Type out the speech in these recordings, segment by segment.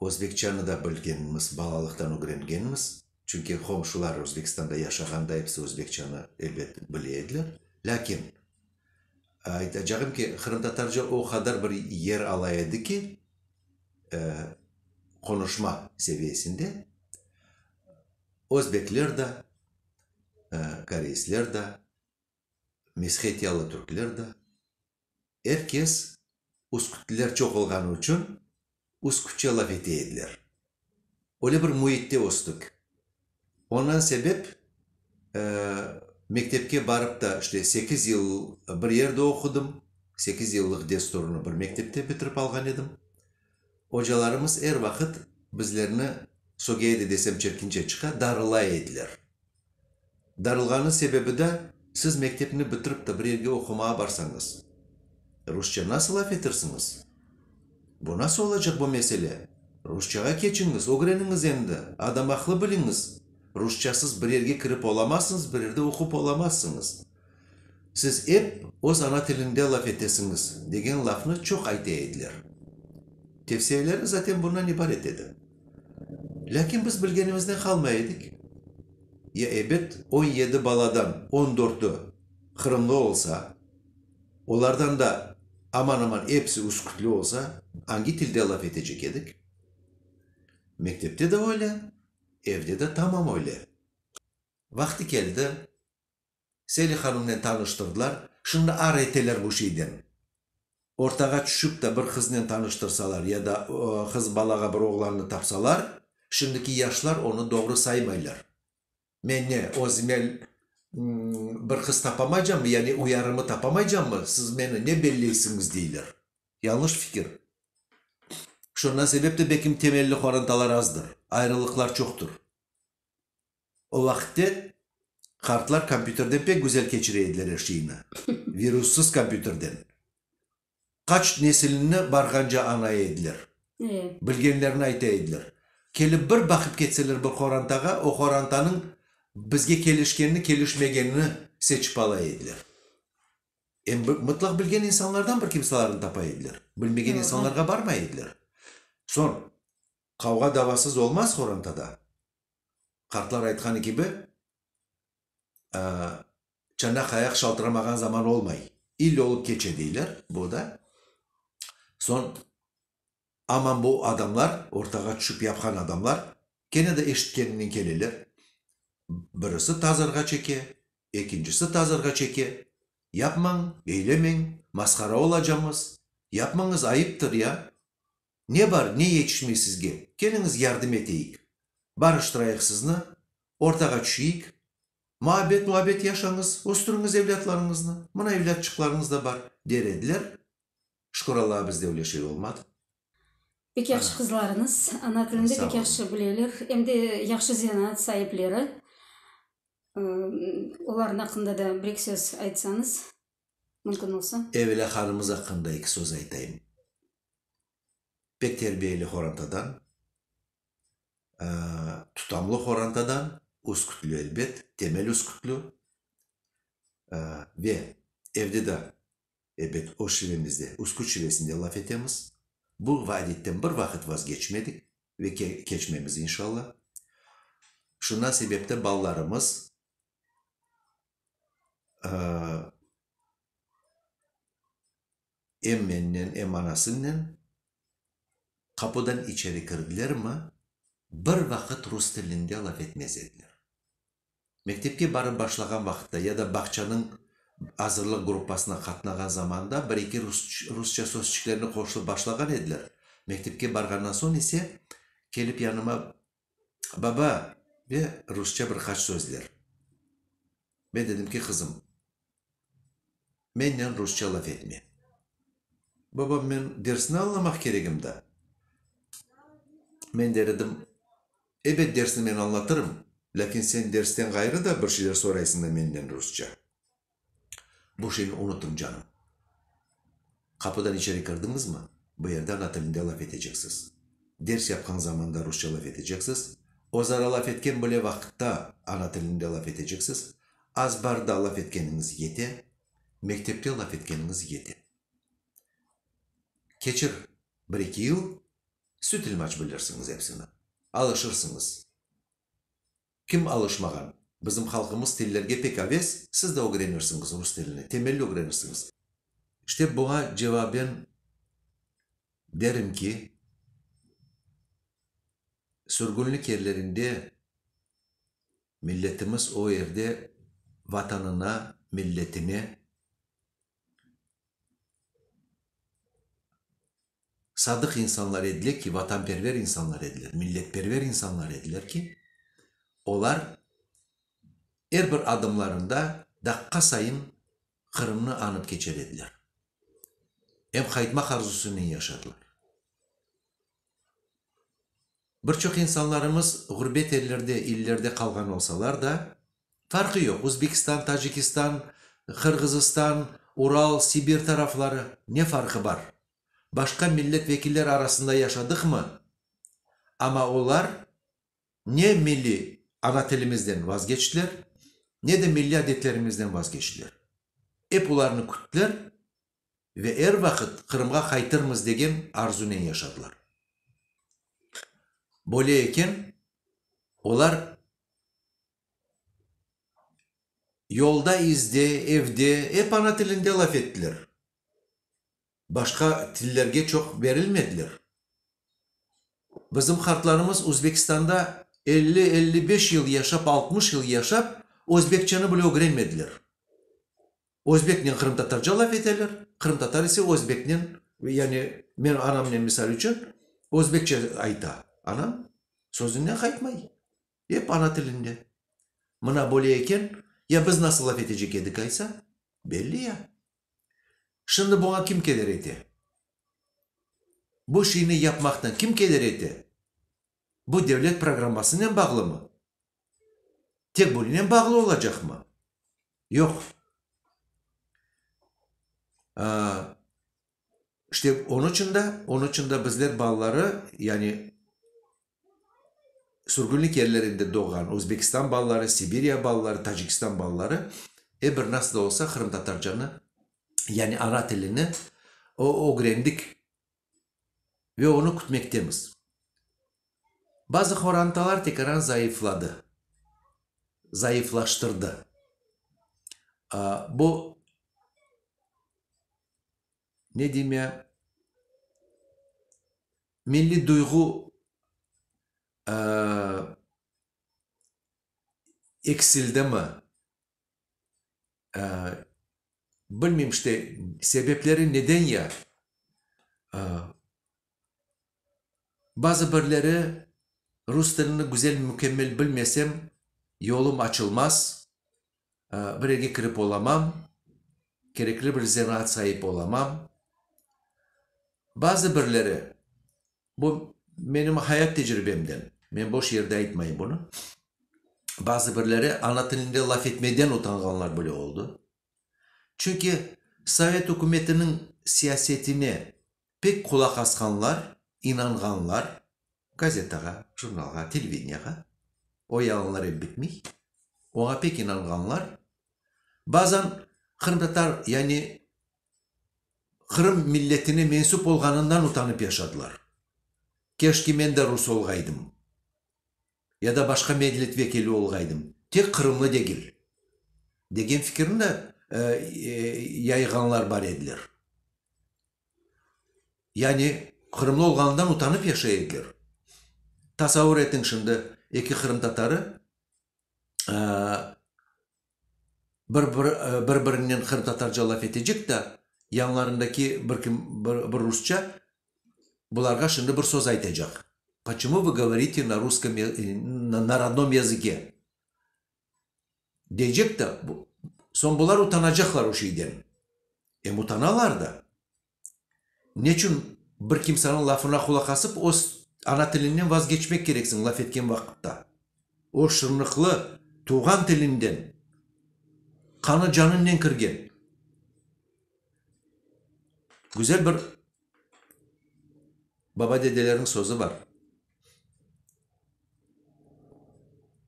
Özbekçanı da bilgenmiz, balalıqtan ögrengenmiz. Çünki qomşular Özbekistanda yaşağanda episi özbekçanı, elbet, bile ediler. Lâkin, aytacağım ki, qırımtatarca o qadar bir yer ala edi ki, qonuşma seviyesinde özbekler da, koreysler da, meshetyalı türkler da, er kes üskütliler çoq olğanı içün üskütçe laf ete ediler. Öyle bir müitte östük. Ondan sebep mektepke barıp da işte sekiz yıl bir yerde oqudım, sekiz yıllıq desturını bir mektepte bitirip alğan edim. Ocalarımız er vaqıt bizlerni, Sogea de desem çirkinçe çıqa, darılay ediler. Darılğanı sebebi da, siz mektepni bitirip ta bir yerge oqumağa barsañız, rusça nasıl laf etirsiñiz? Bu nasıl olacaq bu mesele? Rusçağa keçiñiz, ögreniñiz endi, adam aqlı biliñiz, rusçasız bir yerge kirip olamazsıñız, bir yerde oqup olamazsıñız. Siz ep öz ana tilinde laf etesiñiz, degen lafnı çoq ayte ediler. Tevsiyeleri zaten bundan ibaret edi. Lâkin biz bilgenimizden qalmay edik. Ya ebet on yedi baladan on dörtü qırımlı olsa, olardan da aman-aman episi üskütli olsa, angi tilde laf etecek edik? Mektepte de öyle, evde de tamam öyle. Vaqtı keldi, Seli hanımnen tanıştırdılar, şimdi ar eteler bu şeyden. Ortağa tüşip de bir qıznen tanıştırsalar ya da qız balağa bir oğlannı tapsalar, şimdiki yaşlar onı doğru saymaylar. Men ne, özüme bir qız tapamaycammı, yani uyarımı tapamaycammı, siz meni ne belleysiñiz, deyler. Yañlış fikir. Şundan sebep de belkim temelli qorantalar azdır, ayrılıqlar çoqtur. O vaqıtte qartlar kompyuterden pek güzel keçire ediler er şeyni, virussız kompyuterden. Qaç nesilni barğance añay ediler, bilgenlerini ayta ediler. Kelip bir baqıp ketseler bir qorantağa, o qorantanıñ bizge kelişkenini, kelişmegenini seçip ala ediler. Em mıtlaq bilgen insanlardan bir kimsalarnı tapa ediler, bilmegen insanlarğa barmay ediler. Soñ, qavğa-davasız olmaz qorantada. Qartlar aytqanı kibi, çanaq ayaq şaltıramağan zaman olmay, ille olıp keçe, deyler, bu da. Soñ, aman bu adamlar, ortağa tüşip yapqan adamlar, kene de eşitkeninen keleler, birisi tazarğa çeke, ekincisi tazarğa çeke, yapmañ, eylemeñ, masqara olacamız, yapmañız, ayıptır ya, Ne bar, ne yetişmey sizge? Keliñiz, yardım eteyik. Barıştırayıq sizni, ortağa tüşeyik. Muabbet-muabbet yaşañız, östüriñiz evlâtlarıñıznı. Mına evlâtçıqlarıñız da bar, der ediler. Şükür Allağa, bizde öyle şey olmadı. Pek yahşı qızlarıñız, ana tilini de pek yahşı bileler, em de yahşı zenaat saipleri. Olarnıñ aqqında da bir-eki söz aytsañız. mümkün olsa. Evela hanımız aqqında eki söz aytayım. Pek terbiyeli horantadan, tutamlı horantadan, üskütlü elbet, temel üskütlü. Ve evde de, elbet, öz şivemizde, üsküt şivesinde laf etemiz. Bu vaadetten bir vaqıt vazgeçmedik ve keçmemiz inşalla. Şundan sebepten balalarımız em mennen, em anasınnen qapudan içeri kirdilermi, bir vaqıt rus tilinde laf etmez ediler. Mektepke barıp başlağan vaqıtta ya da bağçanıñ azırlıq gruppasına qatnağan zamanda bir-eki rusça sözçiklerni qoşılıp başlağan ediler, mektepke barğandan soñ ise, kelip yanıma Baba! ve rusça bir qaç sözler. Men dedim ki, qızım, mennen rusça laf etme. Babam, men dersni añlamaq keregim da. Men der edim, ebet dersni men añlatırım, lâkin sen dersten ğayrı da bir şeyler soraysıñ da mennen rusça. Bu şeyni unutıñ, canım. Qapıdan içeri kirdiñizmi, bu yerde ana tilinde laf eteceksiz. Ders yapqan zamanda rusça laf eteceksiz, özara laf etken bile vaqıtta ana tilinde laf eteceksiz, azbarda laf etkeniñiz yete, mektepte laf etkeniñiz yete. Keçir bir-eki yıl, sütülmaç bilirsiñiz epsini, alışırsıñız. Kim alışmağan? Bizim halqımız tillerge pek aves, siz de ögrenirsiñiz rus tilini, temelli ögrenirsiñiz. İşte buña cevaben derim ki, sürgünlik yerlerinde milletimiz o yerde Vatanına, milletine, sadıq insanlar ediler ki, vatanperver insanlar ediler, milletperver insanlar ediler ki, olar er bir adımlarında daqqa sayın Qırımnı añıp keçer ediler, em qaytmaq arzusınen yaşadılar. Bir çoq insanlarımız ğurbet ellerde, illerde qalğan olsalar da, Farqı yoq, Uzbekistan, Tacikistan, Qırğızıstan, Ural, Sibir tarafları, ne farqı bar? Başqa millet vekiller arasında yaşadıqmı? Amma olar ne milliy ana tilimizden vazgeçtiler, ne de milliy adetlerimizden vazgeçtiler. Ep olarnı küttiler, ve er vaqıt Qırımğa qaytırmız degen arzunen yaşadılar. Böyle eken, olar yolda, izde, evde ep ana tilinde laf ettiler, başqa tillerge çoq berilmediler. Bizim qartlarımız Özbekistanda elli, elli beş yıl yaşap, altmış yıl yaşap, özbekçeni bile ögrenmediler. Özbeknen qırımtatarca laf eteler, qırımtatar ise özbeknen, yani menim anamnen misal içün, özbekçe ayta. Anam sözünden qaytmay, ep ana tilinde. Mına böyle eken, ya biz nasıl laf etecek edik aysa? Belli ya. Şimdi buña kim keder ete? Bu şeyni yapmaqtan kim keder ete? Bu devlet programmasınen bağlımı? Tek bunınen bağlı olacaqmı? Yoq. İşte, onıñ içün de, onıñ içün de bizler balaları, yani sürgünlik yerlerinde doğğan Özbekistan balaları, Sibirya balaları, Tacikistan balaları, er bir nasıl da olsa qırımtatarcanı, yani ana tilini ögrendik. ve onı kütmektemiz. Bazı qorantalar tekaran zayıfladı, zayıflaştırdı. Bu, ne deyim ya, milliy duyğu eksildimi? Bilmeyim işte, sebepleri neden ya? Bazı birleri rus tilini güzel, mükemmel bilmesem, yolum açılmaz, bir yerge kirip olamam, kerekli bir zanaat sahip olamam. Bazı birleri, Bu menim hayat tecribemden. Men boş yerde aytmayım bunı. Bazı birleri ana tilinde laf etmeden utanğanlar bile oldı. Çünki sovet ükümetiniñ siyasetine pek qulaq asqanlar, inanğanlar, gazetağa, jurnalğa, televideniyağa, o yalanlar ep bitmey, oña pek inanğanlar, bazan qırımtatar, yani Qırım milletine mensüp olğanından utanıp yaşadılar. Keşke men de rus olğaydım ya da başqa medlet vekili olğaydım, tek qırımlı degil, degen fikirni de yayğanlar bar ediler. Yani qırımlı olğanından utanıp yaşay ediler. Tasavur etiñ şimdi, eki qırımtatarı bir-birinden qırımtatarca laf etecek da, yanlarındaki bir kim bir rusça bularğa şimdi bir söz aytacaq, Poçumu vı govorite na ruskom, na rodnom yazıke? deycek da, soñ bular utanacaqlar o şeyden. Em utanalar da. Neçün bir kimseniñ lafına qulaq asıp, öz ana tiliñnen vazgeçmek kereksiñ laf etken vaqıtta? O şırnıqlı tuvğan tilinden qanı-canıñnen kirgen güzel bir baba-dedelerniñ sözü bar.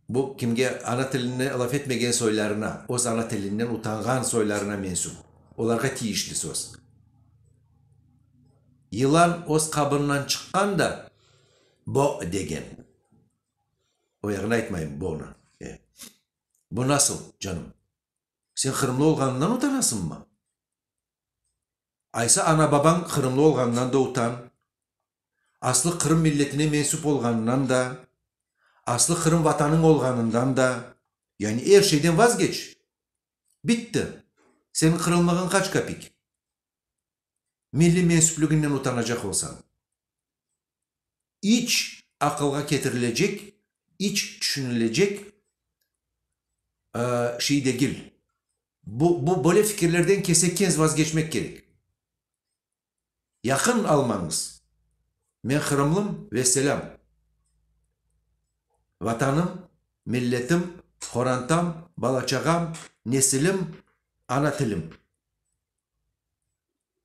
Bu kimge ana tilini laf etmegen soylarına, öz ana tilinden utanğan soylarına mensüp, olarğa tiyişli söz. Yılan öz qabından çıqqan da bo degen. Oyağını aytmayım bonı. E, bu nasıl, canım? Sen qırımlı olğanından utanasıñmı? Aysa ana-babañ qırımlı olğanından da utan. aslı Qırım milletine mensup olğanınan da, aslı Qırım vatanıñ olğanından da, yani er şeyden vazgeç, bitti, seniñ qırımlığıñ qaç kapik? Milliy mensupliginden utanacaq olsañ. İç aqılğa ketirilecek, iç tüşünilecek şey degil. Bu, bu böyle fikirlerden kesekenz vazgeçmek kerek. Yaqın almañız. Men qırımlım ve selâm. Vatanım, milletim, qorantam, bala-çağam, nesilim, ana tilim.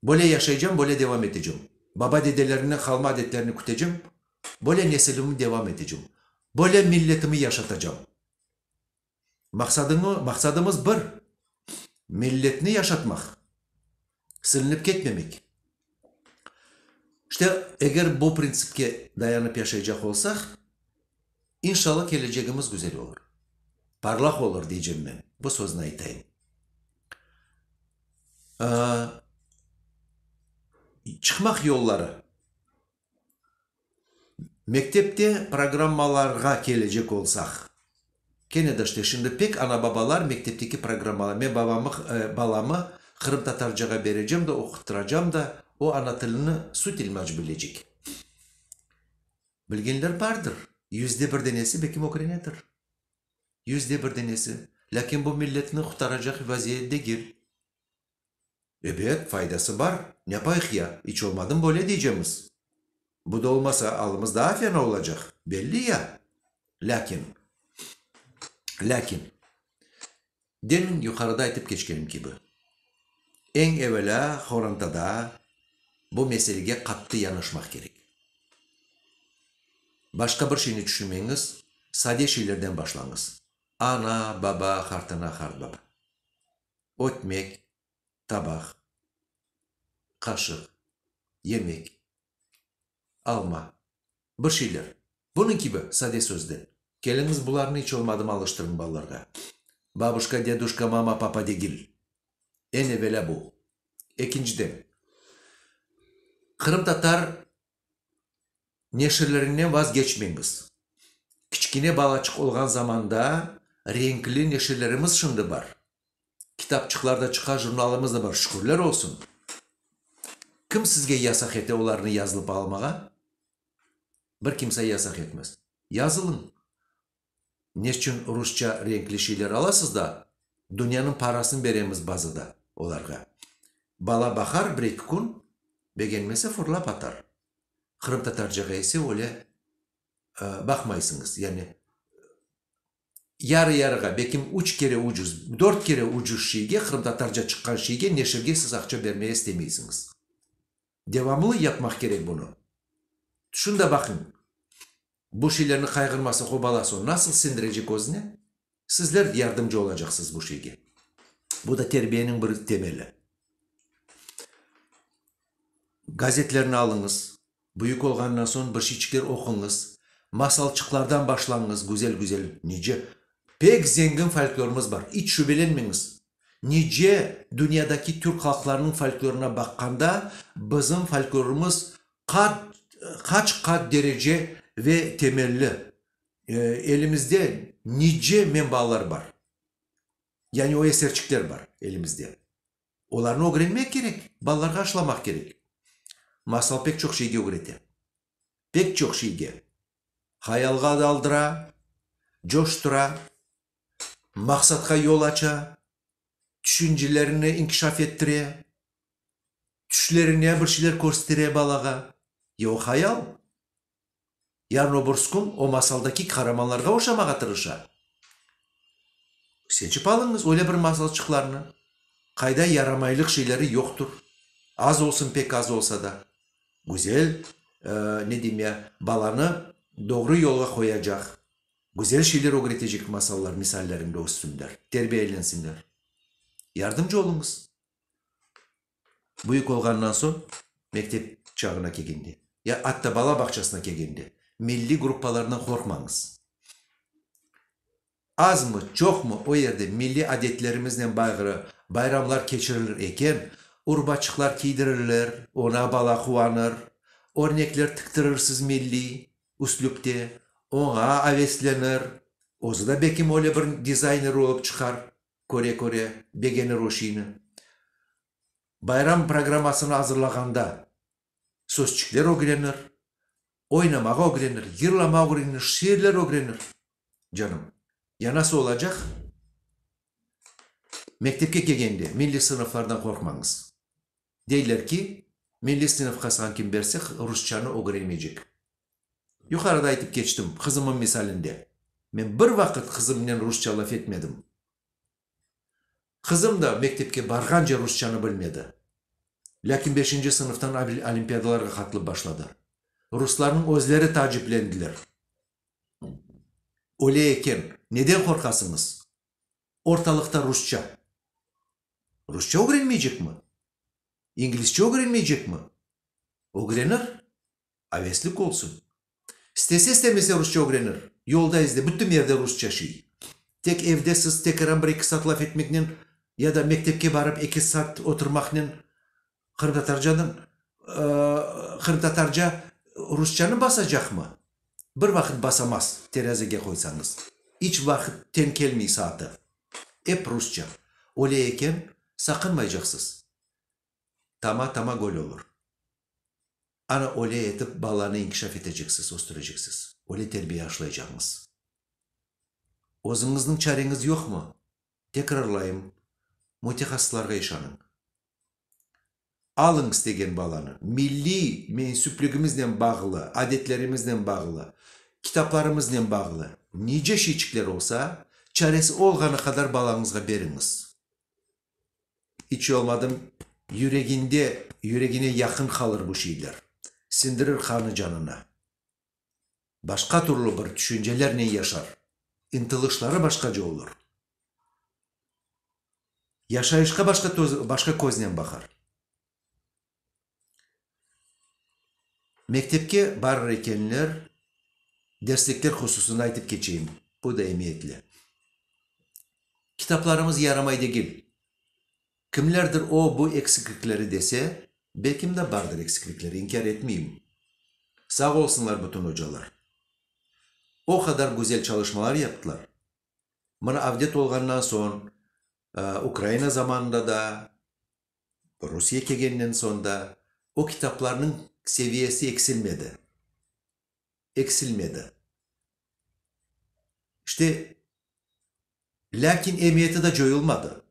Böyle yaşaycam, böyle devam etecem. Baba-dedelerimden qalma adetlerni kütecem, böyle nesilimi devam etecem. Böyle milletimi yaşatacam. Maqsadıñı, maqsadımız bir, milletni yaşatmaq, silinip ketmemek. İşte, eger bu printsipke dayanıp yaşaycaq olsaq, inşalla kelecegimiz güzel olur, parlaq olur deycem men, bu sözni aytayım. Çıqmaq yolları. Mektepte programmalarğa kelecek olsaq, kene de işte şimdi pek ana-babalar mektepteki programmalar, men babamı, balamı qırımtatarcağa berecem de, oquttıracam da, o ana tilini süt-ilmac bilecek. Bilgenler bardır, yüzde bir denesi belki ögrenedir, yüzde bir denesi, lâkin bu milletni qurtaracaq vaziyet degil. Ebet, faydası bar, yapayıq ya, iç olmadım böyle deycemiz. Bu da olmasa, alımız daa fena olacaq, belli ya. Lâkin, lâkin, demin yuqarıda aytıp keçkenim kibi, eñ evelâ qorantada bu meselege qattı yanaşmaq kerek. Başqa bir şeyni tüşünmeñiz, sade şeylerden başlañız, ana, baba, qartana, qartbaba. ötmek, tabaq, qaşıq, yemek, alma, bir şeyler, bunıñ kibi sade sözde. Keliñiz bularnı iç olmadım alıştırıñ balalarğa. Babuşka, deduşka, mama, papa degil. Eñ evelâ bu. Ekinciden, qırımtatar neşirlerinden vazgeçmeñiz. Kiçkine balaçıq olğan zamanda renkli neşirlerimiz şimdi bar. Kitapçıqlar da çıqa, jurnalımız da bar, şükürler olsun. Kim sizge yasaq ete olarnı yazılıp almağa? Bir kimse yasaq etmez. Yazılıñ, Neçün rusça renkli şeyler alasız da, dünyanıñ parasını beremiz bazada olarğa? Bala baqar bir-eki kün, begenmese fırlap atar. Qırımtatarcağa ise öyle baqmaysıñız, yani yarı-yarığa, belkim üç kere ucuz, dört kere ucuz şeyge, qırımtatarca çıqqan şeyge, neşirge siz aqça bermeye istemeysiñiz. Devamlı yapmaq kerek bunı. Tüşün de baqıñ. Bu şeylerni qayğırmasın, qobalasın, nasıl sindirecek özüne? Sizler yardımcı olacaqsız bu şeyge. Bu da terbiyeniñ bir temeli. Gazetlerni alıñız, büyük olğanından soñ bir şeyçikler oquñız, masalçıqlardan başlañız, güzel-güzel nice pek zengin folklorımız bar, iç şübelenmeñiz. Nice dünyadaki türk halqlarınıñ folklorına baqqanda, bizim folklorımız Qat, qaç qat derece ve temelli elimizde nice menbalar bar. Yani o eserçikler bar elimizde. Olarnı ögrenmek kerek, balalarğa aşılamaq kerek. Masal pek çoq şeyge ögrete. Pek çoq şeyge. Hayalğa daldıra, coştura, maqsatqa yol aça, tüşüncelerni inkişaf ettire. tüşlerine bir şeyler körstire balağa, ya o hayal, ya Noburskun o masaldaki qaramanlarğa oşamağa tırışa. Seçip alıñız öyle bir masalçıqlarnı, qayda yaramaylıq şeyleri yoqtur, az olsun, pek az olsa da, güzel, ne deyim ya, balanı doğru yolğa qoyacaq, güzel şeyler ögretecek masallar misallerinde össünler, terbiyelensinler. Yardımcı oluñız. Büyük olğannan soñ, mektep çağına kelgende, ya atta bala bağçasına kelgende, milliy gruppalardan qorqmañız. Azmı, çoqmı, o yerde milliy adetlerimiznen bağrı bayramlar keçirilir eken, urbaçıqlar kiydirilir, oña bala quvanır, örnekler tiktirirsiz milliy üslüpte, oña aveslenir, özü de bekim öyle bir dizayner olıp çıqar. Köre-köre begenir o şiini. Bayram programmasını azırlağanda sözçikler ögrenir, oynamağa ögrenir, yırlama ögrenir, şiirler ögrenir. Canım, yanası olacaq. Mektepke kelgende milliy sınıflardan qorqmañız. Deyler ki, milliy sınıf qasğan kim berse, rusçanı ögrenemeycek. Yuqarıda aytıp keçtim, qızımım misalinde. Men bir vaqıt qızımnen rusça laf etmedim. Qızım da mektepke barğance rusçanı bilmedi. Lâkin beşinci sınıftan olimpiadalarğa qatılıp başladı. Ruslarnıñ özleri taaciplendiler. Öyle eken, neden qorqasıñız? ortalıqta rusça. Rusça ögrenmeycekmi? İngilizçe ögrenmeycekmi? Ögrenir, aveslik olsun. İstese, istemese rusça ögrenir. Yolda, izde, bütün yerde rusça şey. Tek evde siz tekeran bir-eki saat laf etmeknen ya da mektepke barıp eki saat oturmaqnen Qırımtatarcanıñ, qırımtatarca rusçanı basacaqmı? Bir vaqıt basamaz, terezige qoysañız. İç vaqıt teñ kelmey saatı. Ep rusça. Öyle eken, saqınmaycaqsız. Tama tama göl olur. Ana öyle etip balanı inkişaf eteceksiz, östüreceksiz. Öyle terbiye aşlaycaqmız. Özüñizniñ çareñiz yoqmı? Tekrarlayım, mütehassıslarğa işanıñ. Alıñız degen balanı, milliy mensüpligimiznen bağlı, adetlerimiznen bağlı, kitaplarımıznen bağlı nice şeyçikler olsa, çaresi olğanı qadar balañızğa beriñiz. İç olmadım, yüreginde, yüregine yaqın qalır bu şeyler, sindirir qanı canına. başqa türlü bir tüşüncelernen yaşar, ıntılışları başqaca olur, yaşayışqa başqa başqa köznen baqar. Mektepke barır ekenler, derslikler hususında aytıp keçeyim, bu da emiyetli. Kitaplarımız yaramay degil, Kimlerdir o, bu eksiklikleri dese, belkim de bardır eksiklikleri, inkâr etmeyim. Sağ olsunlar bütün ocalar. O qadar güzel çalışmalar yaptılar. Mına Avdet olğannan soñ, Ukraina zamanında da, Rusiye kelgennen soñ da o kitaplarnıñ seviyesi eksilmedi. Eksilmedi. İşte. Lâkin emiyeti de coyulmadı.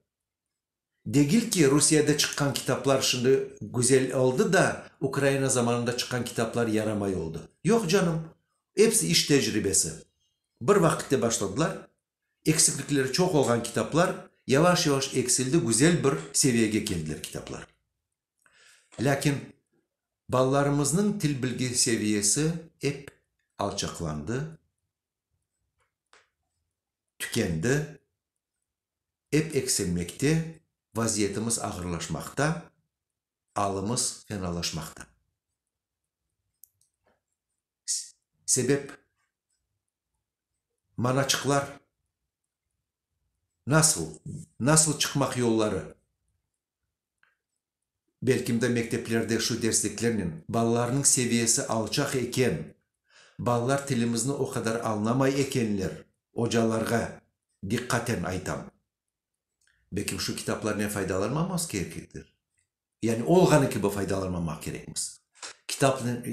Degil ki, Rusiyede çıqqan kitaplar şimdi güzel oldı da, Ukraina zamanında çıqqan kitaplar yaramay oldı. Yoq canım, episi iş tecribesi. Bir vaqitte başladılar, eksiklikleri çoq olğan kitaplar yavaş-yavaş eksildi, güzel bir seviyege keldiler kitaplar. Lâkin balalarımıznıñ til bilgi seviyesi ep alçaqlandı. tükendi, ep eksilmekte, vaziyetimiz ağırlaşmaqta, alımız fenalaşmaqta. Sebep, manaçıqlar nasıl, nasıl çıqmaq yolları? Belkimde mekteplerde şu dersliklernen balalarnıñ seviyesi alçaq eken, balalar tilimizni o qadar añlamay ekenler, ocalarğa diqqaten aytam. Belkim şu kitaplarnen faydalanmamız kereklidir? Yani olğanı kibi faydalanmamaq kerekmiz. Kitapnen,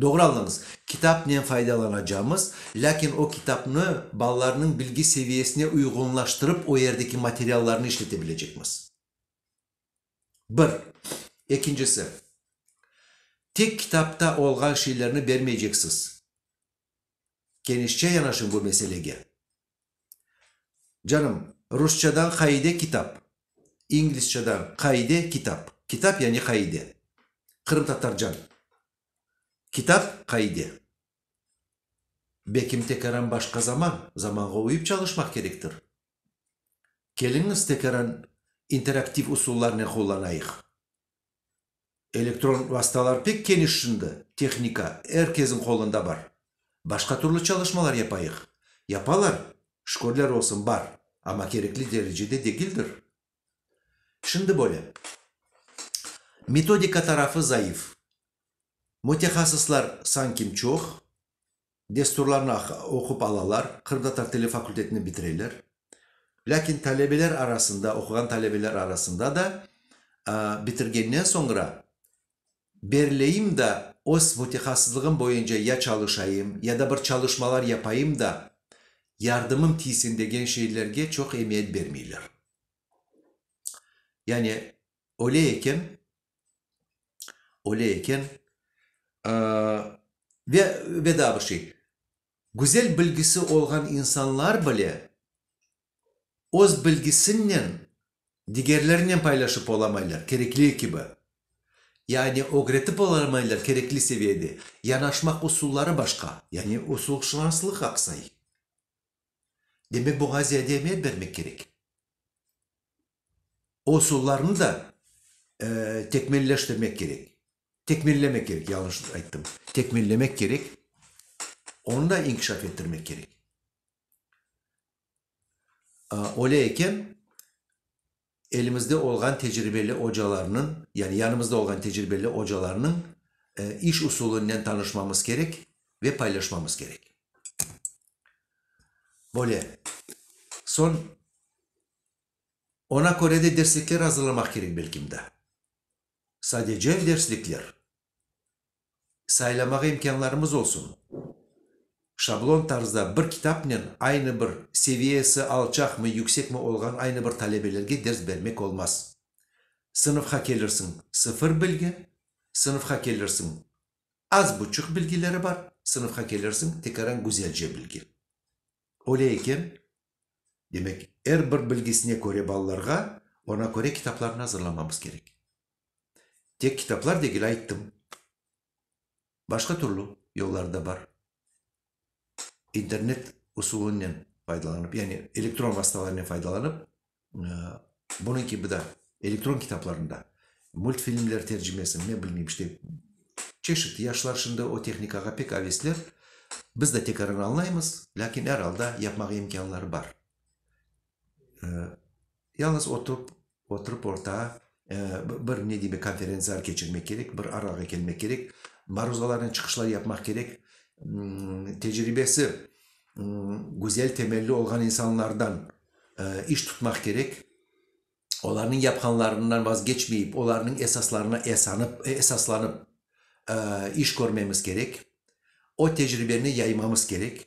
doğru añlañız, kitapnen faydalanacamız, lâkin o kitapnı balalarnıñ bilgi seviyesine uyğunlaştırıp o yerdeki materiallarnı işletebilecekmiz. Bir. Ekincisi, tek kitapta olğan şeylerni bermeyceksiz. Kenişçe yanaşıñ bu meselege. Canım, rusçadan qaide kitap, inglizçadan qaide kitap, kitap yani qaide, qırımtatarcan kitav, qaide. Bekim tekeram başqa zaman, zamanğa uyıp çalışmaq kerektir. Keliñiz, tekaran interaktiv usullarnen qullanayıq. Elektron vastalar pek keniş şimdi, tehnika er kesin qolunda bar. Başqa türlü çalışmalar yapayıq. Yapalar, şükürler olsun, bar, amma kerekli derecede degildir. Şimdi böyle, metodika tarafı zayıf, mütehassıslar sankim çoq. Desturlarnı oqup alalar, qırımtatar tili fakultetini bitireler. Lâkin talebeler arasında, oquğan talebeler arasında da bitirgennen soñra berleyim da öz votihasızlığım boyunca ya çalışayım, ya da bir çalışmalar yapayım da yardımım tiysin degen şeylerge çoq emiyet bermeyler. Yani öyle eken, öyle eken, ve, ve daa bir şey, güzel bilgisi olğan insanlar bile öz bilgisinnen digerlerinen paylaşıp olamaylar kerekli kibi, yani ögretip olamaylar kerekli seviyede, yanaşmaq usulları başqa, yani usulşınaslıq aqsay. Demek, Boğaziye de emek bermek kerek. O usullarnı da tekmilleştirmek kerek. Tekmillemek kerek, yanlış ayttım. Tekmillemek kerek, onı da inkişaf ettirmek kerek. Öyle eken, elimizde olğan tecribeli ocalarnıñ, yani yanımızda olğan tecribeli ocalarnıñ iş usulınen tanışmamız kerek ve paylaşmamız kerek. Böyle. Soñ ona köre de derslikler azırlamaq kerek belkim de. Sadece derslikler. saylamağa imkânlarımız olsun. Şablon tarzda bir kitapnen aynı bir, seviyesi alçaqmı, yüksekmi olğan aynı bir talebelerge ders bermek olmaz. Sınıfqa kelirsiñ, sıfır bilgi, sınıfqa kelirsiñ, az buçuq bilgileri bar, sınıfqa kelirsiñ, tekaran güzelce bilgi. Öyle eken, demek, er bir bilgisine köre balalarğa, ona köre kitaplarnı azırlamamız kerek. Tek kitaplar degil, ayttım. Başqa türlü yollar da bar. İnternet usulınınen faydalanıp, yani elektron vastalarınen faydalanıp, bunıñ kibi da elektron kitaplarnı da, multfilmler tercimesini, ne bilmeyim, işte, çeşit, yaşlar şimdi o tehnikağa pek avesler. Biz de tekrarını añlaymız, lâkin er alda yapmağa imkânları bar. Yalıñız otup, oturıp orta bir ne demek konferentsiyalar keçirmek kerek, bir arağa kelmek kerek, maruzalarini çıqışlar yapmaq kerek. Tecribesi güzel temelli olğan insanlardan iş tutmaq kerek. Olarnıñ yapqanlarından vazgeçmeyip, olarnıñ esaslarına esanıp, esaslanıp iş körmemiz kerek. O tecribeni yaymamız kerek.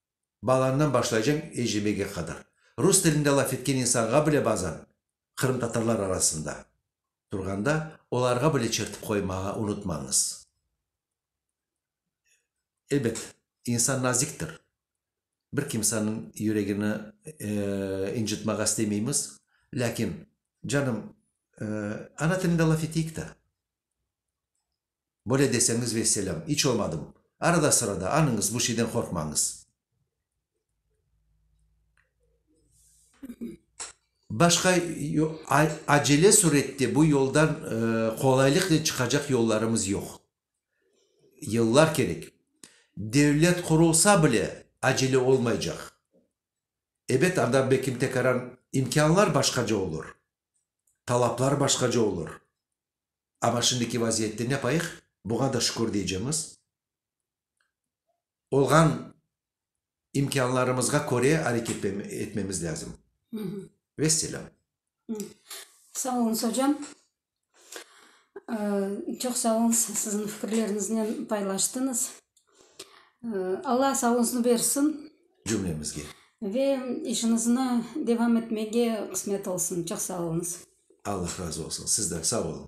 Balandan başlaycañ eclemege qadar. Rus tilinde laf etken insanğa bile bazan, qırımtatarlar arasında turğanda, olarğa bile çertip qoymağa unutmañız. Elbet, insan naziktir. Bir kimsaniñ yüregini incitmağa istemeymiz. Lâkin, canım, ana tilinde laf eteyik ta. Böyle deseñiz vesselâm, iç olmadım. Arada-sırada anıñız, bu şeyden qorqmañız. Başqa acele sürette bu yoldan qolaylıqnen çıqacaq yollarımız yoq. Yıllar kerek. Devlet qurulsa bile, acele olmaycaq. Ebet, anda belki imtekaran imkânlar başqaca olur, talaplar başqaca olur. Amma şimdiki vaziyette ne qayıq, buğa da şükür deycemiz. Olğan imkânlarımızğa köre areket etmemiz lâzim. Vesselâm. Sağ oluñız, ocam. Çoq sağ oluñız, siziñ fikirleriñiznen paylaştıñız. Alla sağlığıñıznı bersin. cümlemizge. Ve işiñizni devam etmege qısmet olsun. Çoq sağ oluñız. Allah razı olsun sizden. Sağ oluñ.